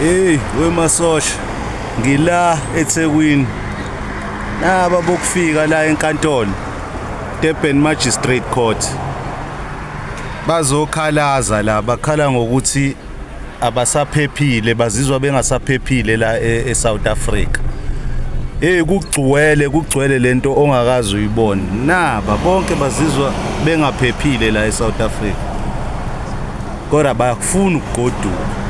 Hey, wemasosha ngila eThekwini. Naba bokufika la enkantolo Durban Magistrate Court. Bazokhalaza la bakhala ngokuthi abasaphephile bazizwa bengasaphephile la e, eSouth Africa. Hey kugcwele kugcwele lento ongakazi uyibone. Naba bonke bazizwa bengaphephile la eSouth Africa. kodwa bayakufuna ukugoduka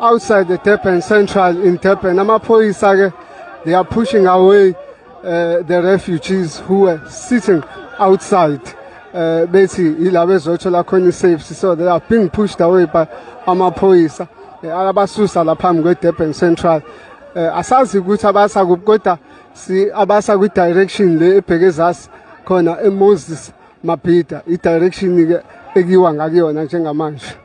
outside the Durban Central in Durban. Amaphoyisa-ke, they are pushing away uh, the refugees who were sitting outside. Uh, bethi yila bezothola khona i-safety so they are being pushed away by amaphoyisa uh, abasusa la phambi kwe-durban central uh, asazi ukuthi abasa kuphi kodwa si abasa kwi-direction le ebheke ezasi khona emoses mabhida i-direction-ke ekuyiwa ngakuyona njengamanje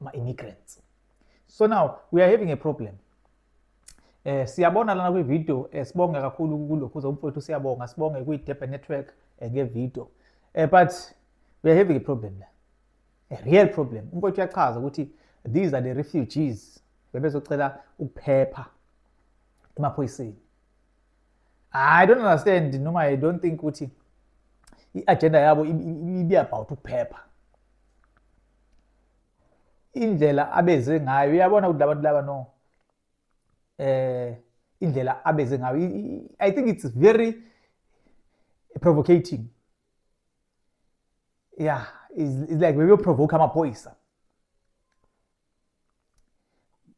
ma immigrants so now we are having a problem eh siyabona lana kwi video eh, sibonga kakhulu kulokhu uzomfowethu siyabonga sibonge kwi Durban network eh, nge video eh but we are having a problem la a real problem umfowethu uyachaza ukuthi these are the refugees bebezocela ukuphepha emaphoyiseni i don't understand noma i don't think ukuthi i-agenda yabo ibe about ukuphepha indlela abeze ngayo uyabona ukuthi labantu laba no eh indlela abeze ngayo i think it's very provocating yeah it's, it's like bebeyoprovoke amaphoyisa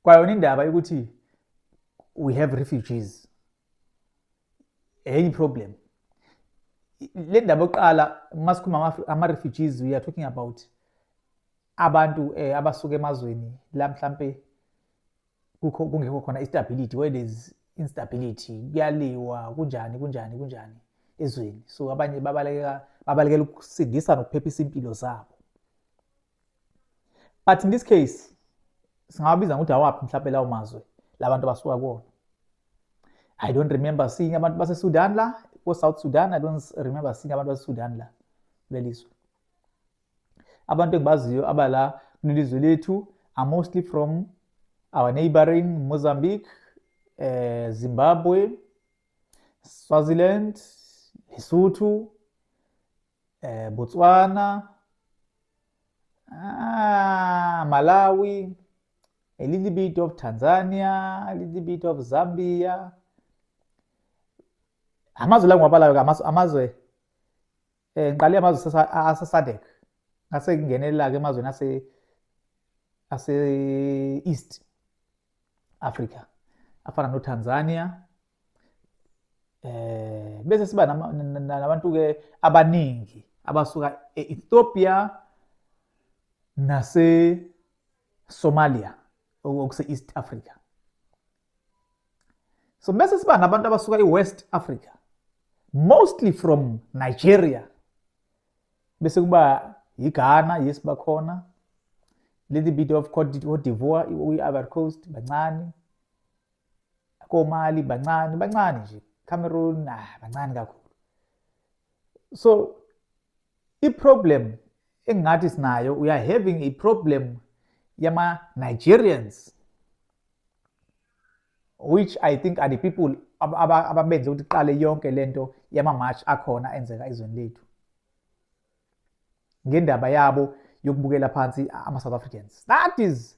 kwayona indaba yokuthi we have refugees enye problem le ndaba yokuqala uma sikhuluma ama-refugees we are talking about abantu eh, abasuka emazweni la mhlampe kukho kungekho khona istability where there is instability kuyaliwa kunjani kunjani kunjani ezweni so abanye babalekela babalekela ukusindisa nokuphephisa impilo zabo but in this case singawabiza ngokuthi awaphi mhlawumbe lawo mazwe labantu abasuka kuwona i don't remember seeing abantu basesudan la ko-south sudan i don't remember seeing abantu basesudan la kulelizwe abantu engibaziyo abala kulelizwe lethu are mostly from our neighboring mozambique eh, zimbabwe swaziland lesotho eh, Botswana, ah, Malawi, a little bit of Tanzania, a little bit of Zambia. Amazwe la ngiwabalayo ke amazwe amazwe eh ngiqale amazwe sasa- a- aseSADC. Ngase ngingenela ke emazweni ase ase East Africa. Afana noTanzania, eh bese siba nabantu ke abaningi abasuka e-Ethiopia nase Somalia okuse East Africa so bese siba nabantu abasuka e-West Africa mostly from Nigeria bese kuba yiGhana yes bakhona little bit of Cote d'Ivoire i-Ivory Coast bancane komali bancane bancane nje Cameroon ah bancane kakhulu so i problem engathi sinayo we are having a problem yama Nigerians which i think are the people ababenze ukuthi qale yonke lento yama march akhona enzeka ezweni lethu ngendaba yabo yokubukela phansi ama-south africans that is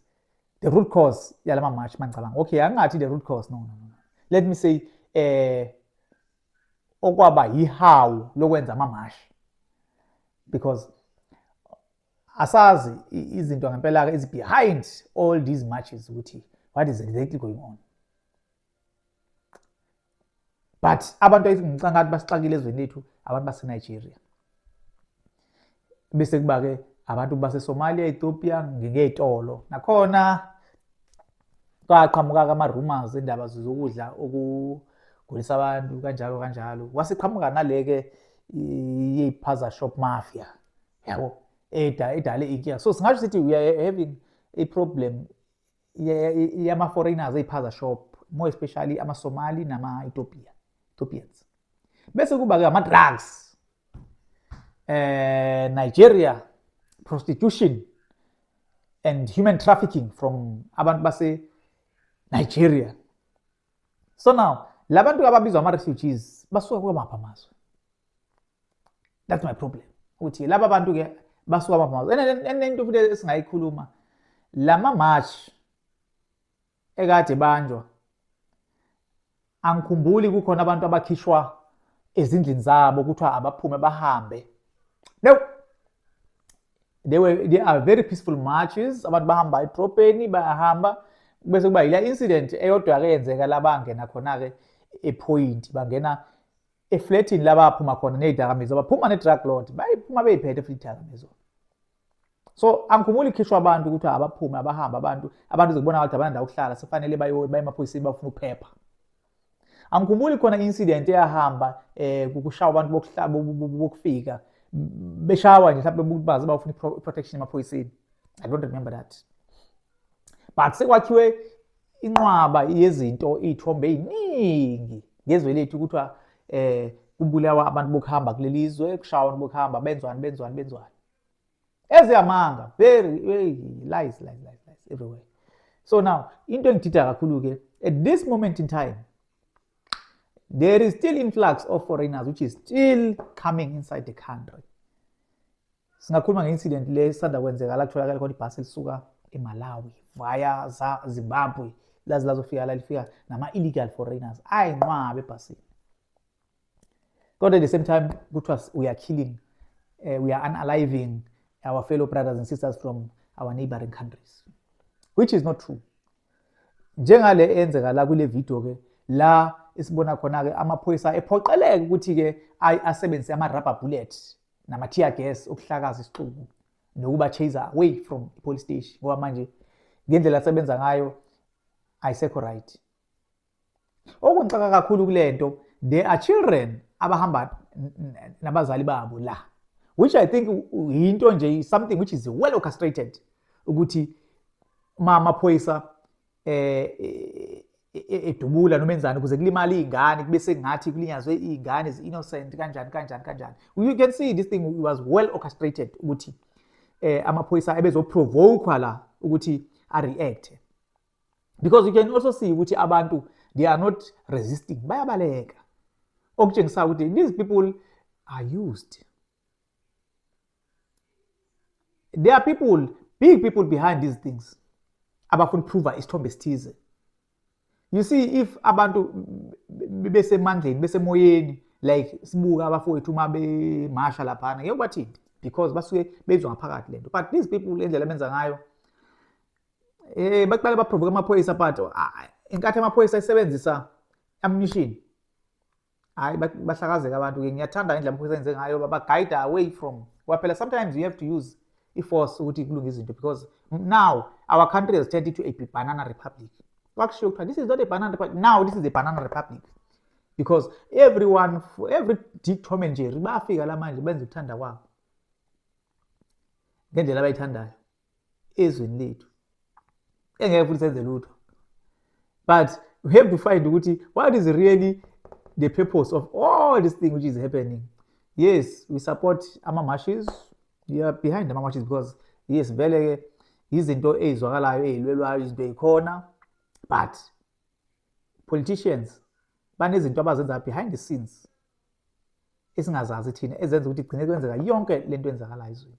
the root cause yala ma-march mangicabanga okay angingathi the root cause no, no, no. let me say eh okwaba yihawu lokwenza amamashi because asazi izinto ngempela-ke is behind all these marches ukuthi what is exactly going on but abantu ngicanga ukuthi basixakile ezweni lethu abantu basenigeria bese kuba-ke abantu basesomalia ethiopia ngingey'tolo nakhona kwaqhamuka-ke ama-rumors indaba zokudla okugulisa abantu kanjalo kanjalo kwase qhamuka nale-ke yey'phaza shop mafia yabo edale inkinga so singasho sithi we are having a problem yama-foreigners eyiphaza shop more especially amasomali nama-ethiopia ethiopians bese kuba-ke ama-drugs eh nigeria prostitution and human trafficking from abantu base-nigeria so now labantu ababizwa ama refugees basuka kwamapha amazwe that's my problem ukuthi laba bantu ke basuka kwamapha amazwe enento futhi esingayikhuluma lama march ekade banjwa angikhumbuli kukhona abantu abakhishwa ezindlini zabo kuthiwa abaphume bahambe no they were they are very peaceful marches abantu bahamba edrobheni bayahamba bese kuba yila incident eyodwa ke yenzeka labangena khona ke ephoyinti bangena efletini labaphuma khona ney'dakamizwa baphuma ne-drug lord bayiphuma beyiphethe futhi idakamizwa so angikhumuli ikhishwa abantu ukuthi abaphume abahambe abantu abantu zikubona ukuthi abanandawo ukuhlala sefanele baye emaphoyiseni bafuna ukuphepha Angikhumbuli khona incident eyahamba eh kukushawa abantu bokuhlaba bokufika beshawa nje mhlawumbe umuntu bazi bawufuna protection emaphoyiseni. I don't remember that. But sekwakhiwe inqwaba yezinto iy'thombe ey'ningi ngezwe lethu kuthiwa eh kubulawa abantu bokuhamba kuleli zwe kushawa abantu bokuhamba benzwani benzwani benzwani eziyamanga very lies lies lies lies everywhere so now into engidida kakhulu ke at this moment in time there is still influx of foreigners which is still coming inside the country singakhuluma nge-incident le sisanda kwenzeka la kutholakala khona ibhasi elisuka emalawi via zimbabwe laze lazofika la lifika nama-illegal foreigners ayinqwabe ebhasini kodwa at the same time kuthiwa we are killing uh, we are unaliving our fellow brothers and sisters from our neighboring countries which is not true njengale eyenzeka la kule video ke la esibona khona-ke amaphoyisa ephoqeleke ukuthi-ke asebenzise ama-rubber bullet nama-tear gas okuhlakaza isixuku nokuba chase away from i-police station ngoba manje ngendlela asebenza ngayo ayisekho right Okungixaka kakhulu kule nto there are children abahamba nabazali babo la which i think yinto nje something which is well orchestrated ukuthi uma amaphoyisa eh, eh, eh, edubula noma enzani ukuze kulimale iy'ngane kube sengathi kulinyazwe iy'ngane zi-innocent kanjani kanjani kanjani you can see this thing was well orchestrated ukuthi eh amaphoyisa ebezoprovoke la ukuthi a-react because you can also see ukuthi abantu they are not resisting bayabaleka okutshengisayo ukuthi these people are used there are people big people behind these things abafuna ukuprova isithombe esithize you see if abantu besemandleni besemoyeni like sibuka abafowethu uma bemasha laphana ngeke bathini because basuke bezwa ngaphakathi lento but these people indlela benza ngayo Eh baqale baprovoke amaphoyisa but ah, inkathi amaphoyisa isebenzisa ammunition. Hayi bahlakazeka abantu ke ngiyathanda indlela amaphoyisa enze ngayo baba guide away from. Kwaphela sometimes you have to use i-force ukuthi kulunge izinto because now our country has turned into a banana republic. Kwakushiwo kuthiwa this is not a banana republic. Now this is a banana republic. Because everyone every Dick Tom and Jerry bafika la manje benza ukuthanda kwabo. Ngendlela abayithandayo. ezweni lethu engeke futhi senze lutho but we have to find ukuthi what is really the purpose of all this thing which is happening yes we support ama-marches we are behind ama-marches because yes vele-ke yizinto eyizwakalayo eyilwelwayo izinto eyikhona but politicians banezinto abazenza behind the scenes esingazazi thina ezenza ukuthi igcine kwenzeka yonke le nto enzakalayo ezweni